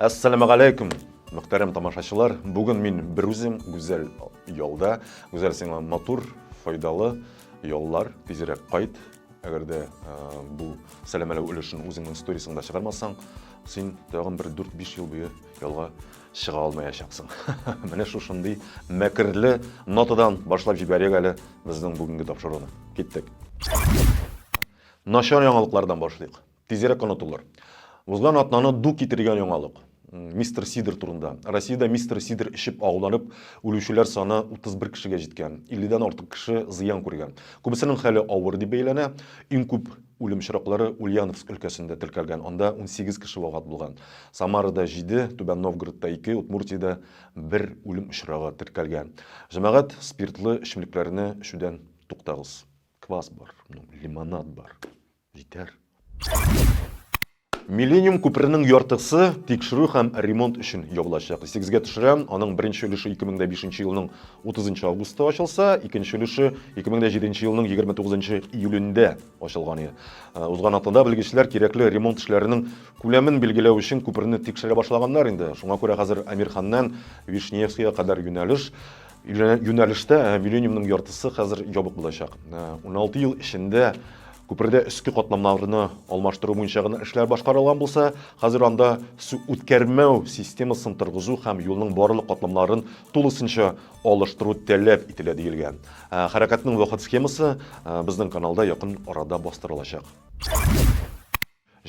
Ассаламу алейкум, мөхтәрәм тамашачылар. Бүген мин бер үзем гүзәл ялда. Гүзәл сиңа матур, файдалы яллар, тизрәк кайт. Әгәр дә э, бу сәламәләү өлешен үзеңнең сторисыңда чыгармасаң, син тагын бер 4-5 ел буе ялга чыга алмаячаксың. Менә шушындый мәкерле нотадан башлап җибәрик әле безнең бүгенге тапшыруны. Киттек. Начар яңалыклардан башлыйк. Тизрәк онытылыр. Узган атнаны ду китергән яңалык. Мистер Сидер турында. Россиядә мистер Сидер эчеп агуланып үлүчеләр саны 31 кешегә җиткән. 50 дән артык кеше зыян күргән. Күбесенең хәле авыр дип бәяләнә. Иң күп үлем очраклары Ульяновск өлкәсендә теркәлгән, анда 18 кеше вафат булган. Самарада 7, Түбән Новгородта 2, Удмуртиядә бер үлем очрагы теркәлгән. Җәмәгать, спиртлы эчемлекләрне эчүдән туктагыз. Квас бар, ну, лимонад бар. Җитәр. Миллениум күперенең яртысы тикшерү һәм ремонт өчен ябылачак. Исегезгә төшерәм, аның беренче өлеше 2005 елның 30 августта ачылса, икенче өлеше 2007 елның 29 июлендә ачылган иде. Э, узган атнада белгечләр кирәкле ремонт эшләренең күләмен билгеләү өчен күперне тикшерә башлаганнар инде. Шуңа күрә хәзер Амирханнан Вишневскига кадәр юнәлеш Юнәлештә миллениумның яртысы хәзер ябык булачак. Уналты ел эчендә күпердә өске катламнарны алмаштыру буенча гына эшләр башкарылган булса, хәзер анда су үткәрмәү системасын торгызу һәм юлның барлык катламнарын тулысынча алыштыру таләп ителә, диелгән. Хәрәкәтнең вакыт схемасы безнең каналда якын арада бастырылачак.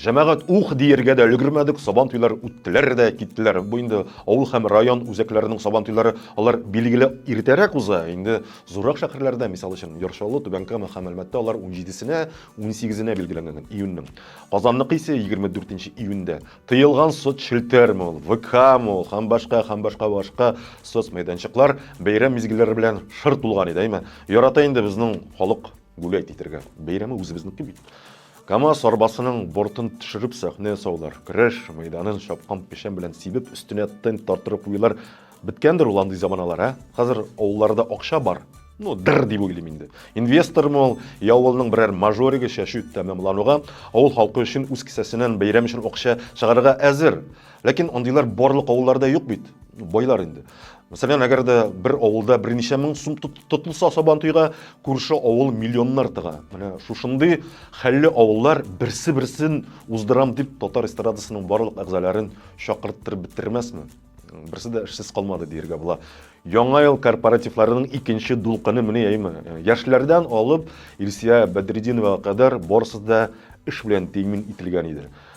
Җәмәгать ух диергә дә өлгермәдек, Сабантуйлар үттеләр дә киттеләр. Бу инде авыл һәм район үзәкләренең Сабантуйлары, алар билгеле иртәрәк уза. Инде зуррак шәһәрләрдә, мисал өчен, Яр Чаллы, Түбән Кама һәм Әлмәттә алар унҗидесенә, унсигезенә билгеләнгән, июньнең. Казанныкы исә егерме дүртенче июньдә. Тыелган соцчелтәрме ул, ВКмы ул һәм башка, һәм башка, башка соцмәйданчыклар бәйрәм мизгелләре белән шыр тулган иде, әйме? Ярата инде безнең халык. Гулять итергә. Бәйрәме үзебезнеке бит. КАМАЗ арбасының бортын төшереп сәхнә ясаулар, көрәш мәйданын чапкан печән белән сибеп, өстенә тент тартырып куюлар. Беткәндер ул андый заманалар, ә? Хәзер авылларда акча бар. Ну, дыр дип уйлыйм инде. Инвестормы ул, я авылның берәр мажоригы чәчү тәмамлануга, авыл халкы өчен үз кесәсеннән бәйрәм өчен акча чыгарырга әзер. Ләкин андыйлар барлык авылларда юк бит. Байлар инде. Мәсәлән, әгәр дә бер авылда берничә мең сум тотылса сабан туйга, күрше авыл миллионнар тыга. Менә шушындый хәлле авыллар берсе-берсен уздырам дип татар эстрадасының барлык әгъзаларын чакырттырып бетермәсме? Берсе дә эшсез калмады диергә була. Яңа ел корпоративларының икенче дулкыны менә яймы. Яшьләрдән алып Илсия Бәдретдиновага кадәр барысы да эш белән тәэмин ителгән иде.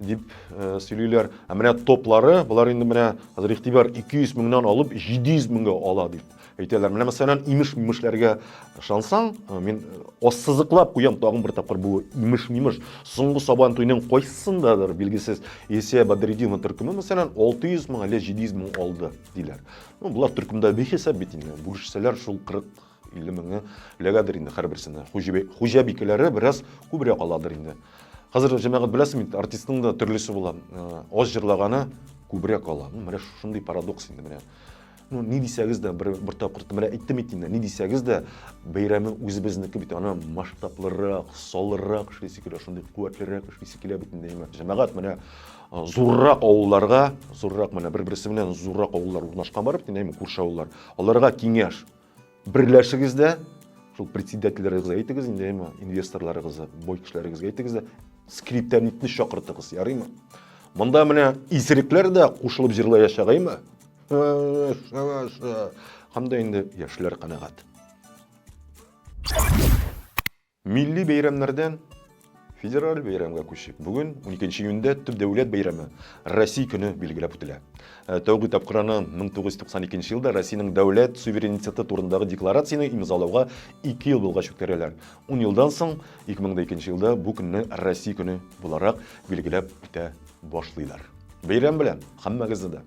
дип э, сөйлиләр. Ә менә топлары, болар инде менә хәзер игътибар 200 меңнән алып 700 меңгә ала дип әйтәләр. Менә мәсәлән, имеш-мимешләргә ышансаң, э, мин э, ассызыклап куям тагын бер тапкыр бу имеш-мимеш. Соңгы сабан туйның кайсысындадыр билгесез Есе Бадредина төркеме мәсәлән 600 мең әле 700 мең алды диләр. Ну, болар төркемдә бихисап бит инде. Бүлешсәләр шул 40 50 меңе эләгәдер инде һәрберсенә. Хуҗабикәләре бераз күбрәк аладыр инде. Хәзер җәмәгать беләсең бит, артистның да төрлесе була. Э, аз җырлаганы күбрәк ала. Ну, менә шундый парадокс инде менә. Ну, ни дисәгез дә, бер, бер тапкыр менә әйттем бит инде, ни дисәгез дә, бәйрәме үзебезнеке бит, аны масштаблырак, салыррак эшлисе килә, шундый куәтлерәк эшлисе килә бит инде. Җәмәгать менә э, зуррак авылларга, зуррак менә бер-берсе белән зуррак авыллар урнашкан барып, динәме күрше авыллар. Аларга киңәш, Берләшегез дә, шул председательләрегезгә әйтегез инде, әйме, инвесторларыгызга, бой кешеләрегезгә әйтегез дә, скриптонитны чакыртыгыз, ярыймы? Монда менә исерекләр дә кушылып җырлаячак, әйме? Һәм дә инде яшьләр канәгать. Милли бәйрәмнәрдән федераль бәйрәмгә күчеп, бүген 12 июньдә төп дәүләт бәйрәме Россия көне билгеләп үтелә. Э, тәүге тапкыр аны 1992 елда Россиянең дәүләт суверенитеты турындагы декларацияне имзалауга 2 ел булгач үткәрәләр. 10 елдан соң 2002 елда бу көнне Россия көне буларак билгеләп үтә башлыйлар. Бәйрәм белән һәммәгезне дә!